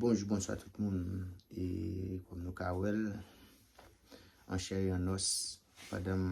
Bonjou bonswa tout moun e kòm nou ka wèl an chè e an os pandanm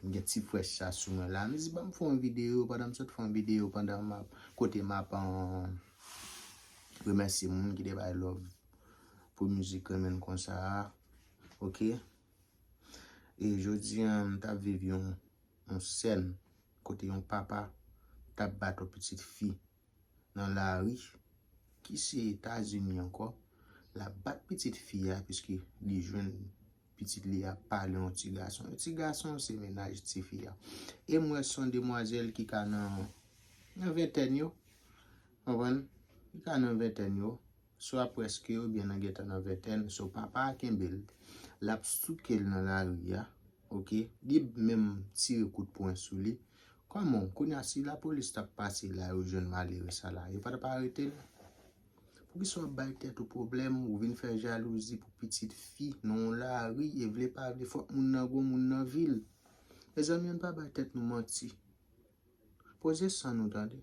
m gen ti frèch sa sou mwen la m di banm fè yon video pandanm sot fè yon video pandan map kote map remèsye moun ki te bay love pou mizik renmen n konsa a ok e jodi an m tap viv yon sèn kote yon papa tap bat yon pitit fi nan lari ki se Etazini ankò, l ap bat pitit fi a piske li jwenn pitit li a pale yon ti gason. Yon ti gason se mennaj ti fi a. E m wè se yon demwazèl ki ka nan ventèn yo, w konprann, ki ka nan ventèn yo. swa prèske oubyen nan gentan nan ventèn, so papa a kenbe l, l ap souke l nan lari a, ok, li menm tire kout pwen sou li, kòman w, kounye a si lapolis t ap pase la yo jwenn malere sa la, yo pa t ap arete l? Poukisa w ap bay tèt ou pwoblèm, ou vin fè jalouzi pou pitit fi nan yon lari e vle pa vle fòk moun nan gwo moun nan vi l? Mezanmi ann pa bay tèt nou manti. Poze san nou tande.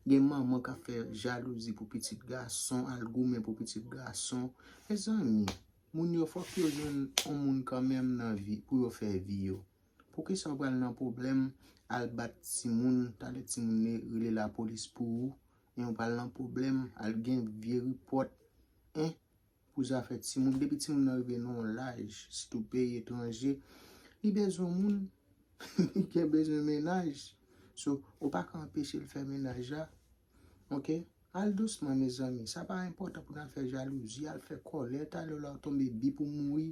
Gen manman kap fè jalouzi pou pitit gason, al goumen pou pitit gason. Mezanmi, moun yo fòk yo jwenn yon moun kanmenm nan vi pou yo fè vi yo. Poukisa ou pral nan pwoblèm al bat timoun, talè timoun ne rele lapolis pou ou, men ou pral nan pwoblèm al gen vye ripòt. Hein! pou zafè timoun depi timoun nan rive nan yon laj sitou peyi etranje li bezwen moun li gen bezwen mennaj so ou pa ka anpeche l fè mennaj la ok al dousman mezanmi sa pa enpòtan pou nan fè jalouzi al fè kòlè talè w la w tonbe bi pou mouri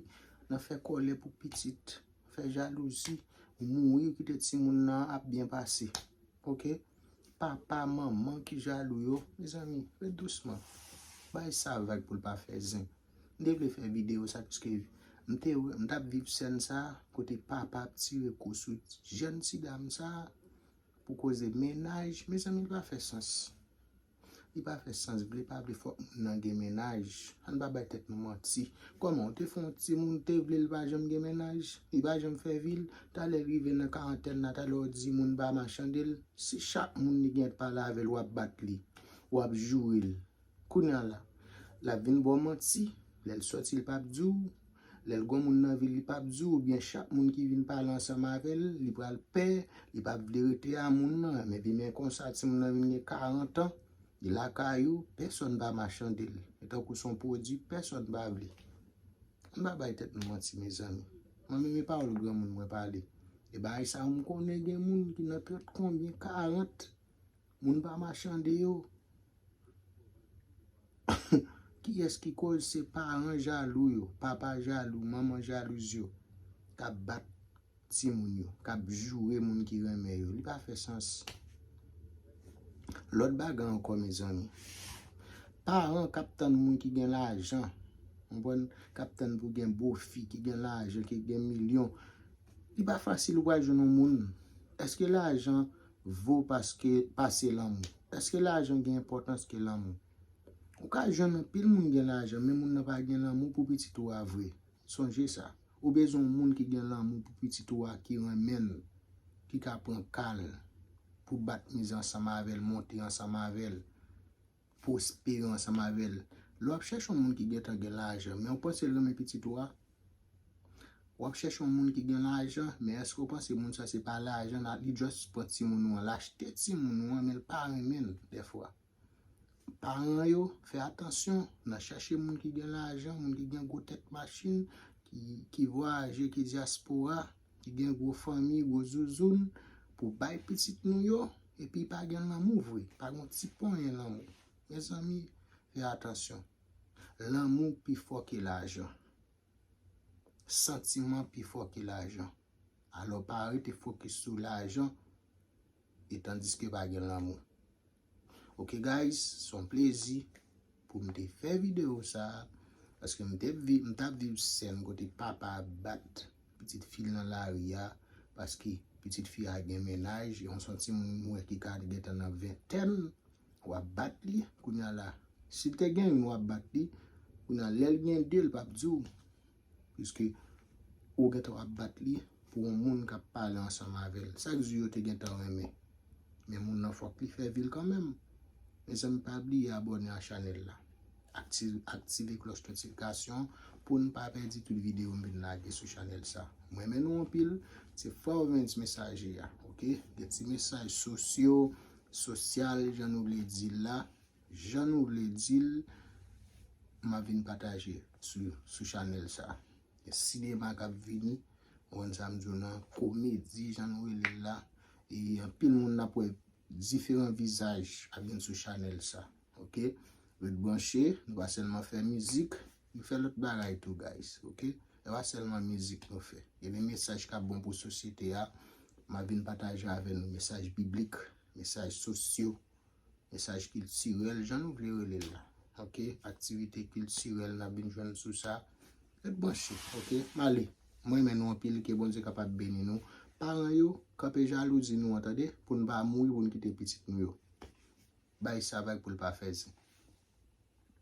nan fè kòlè pou pitit fè jalouzi mouri kite timoun nan ap byen pase ok. Papa, manman ki jalou yo. Mezanmi, ret dousman. Bay sa vag pou l pa fè zen. M te vle fè videyo sa piske m te wè, m t ap viv sèn sa kote papa ap tire kou sou jèn ti dam sa pou koze mennaj. Mezanmi, li pa fè sans. Li pa fè sans vle pa vle fòk moun nan gen mennaj ann pa bay tèt nou manti kòman ou te fè yon timoun ou te vle li pa janm gen mennaj li pa janm fè vil talè rive nan karantèn la talè ou di moun pa machande l si chak moun li gen pale avè l wap bat li wap joure l kounya la lap vin ba w manti lè l sòti l pap di w. Lè l gon moun nan vi l, li pap di w oubyen chak moun ki vin pale ansanm avè l, li pral pè, li pap vle rete a moun nan. Epi men konsa timoun nan vin gen 40 an, li lakay ou, pèsòn pa machande l. Li tankou s on pwodui pèsòn pa vle. An n pa bay tèt nou manti mezanmi. Mwen menm e pawòl granmoun mwen pale. E bagay sa yo m konnen gen moun ki nan trant konbyen, karant, Moun pa machande yo. Kiyès ki koz se paran jalou yo, papa jalou, manman jalouz yo kap bat timoun yo, kap joure moun ki renmen yo. Li pa fè sans. Lòt bagay ankò mezanmi. Paran kap tann moun ki gen lajan, konprann, kap tann pou gen bofi ki gen lajan, ki gen milyon. Li pa fasil ou pral jwenn yon moun. Eske lajan vo paske pase lanmou. Eske lajan gen enpòtans ke lanmou? Ou ka jwenn anpil moun gen lajan men moun nan pa gen lanmou pou pitit ou a vre. Sonje sa. Ou bezwen yon moun ki gen lanmou pou pitit ou a ki renmen l, ki ka pran ka l, pou bat mize ansanm avè l, monte ansanm avè l. pwospere ansanm avè l. Lè w ap chèche yon moun ki gentan gen lajan, men ou panse l renmen pitit ou a? W ap chèche yon moun ki gen lajan, men èske w panse moun sa se pa lajan nan, li just pran timoun ou an, l achte timoun ou an men l pa renmen l dèfwa. Paran yo, fè atansyon nan chèche moun ki gen lajan, moun ki gen gwo tèt machin, ki vwayaje, ki dyaspora. ki gen gwo fanmi, gwo zouzoun pou bay pitit nou yo epi pa gen lanmou vre, pa gen yon ti ponyen lanmou. Mezanmi, fè atansyon. Lanmou pi fò ke lajan. Santiman pi fò ke lajan. Alò pa rete fokis sou lajan etandiske pa gen lanmou. Ok guys son plezi pou m te fè video sa paske m te viv m tap viv sèn kote papa ap bat pitit fi l nan lari a paske pitit fi a gen mennaj yon son timoun m wè ki ka gentan nan ventèn wap bat li kounya la si l te gen youn wap bat li kounya lè l gen de l pap di w Piske ou gen tan ap bat li pou yon moun k ap pale ansanm avè l. Sa k di yo te gen tan renmen. Men moun nan fòk li fè vi l kanmenm. Mezanmi pa bliye abòne a chanèl la. Aktive klòch notifikasyon pou n pa pèdi tout videyo m vin lage sou chanèl sa. M renmen nou anpil. Se Forvens Mesaje a. Ok. Gen ti mesaj sosyo, sosyal jan nou vle di l la. Jan nou vle dil map vin pataje sou chanel sa. Sinema kap vini konn sam diw nan komedi jan nou relel la e anpil moun nap wè diferan vizaj ap vin sou chanel sa ok ret branche nou pa selman fè mizik nou fè lot bagay tou guys ok e pa selman mizik nou fè gen de mesaj kap bon pou sosyete a map vin pataje avè nou mesaj biblik mesaj sosyo Mesaj kiltirèl, jan nou vle rele l la. Ok, aktivite kiltirèl n ap vin jwenn sou sa. Ret branche, ok. M ale. M renmen nou anpil. Ke Bondye kapab beni nou. Paran yo, kanpe jalouzi nou an tande. Pou n pa mouri, pou n kite pitit nou yo. Bay sa vag pou l pa fè zin.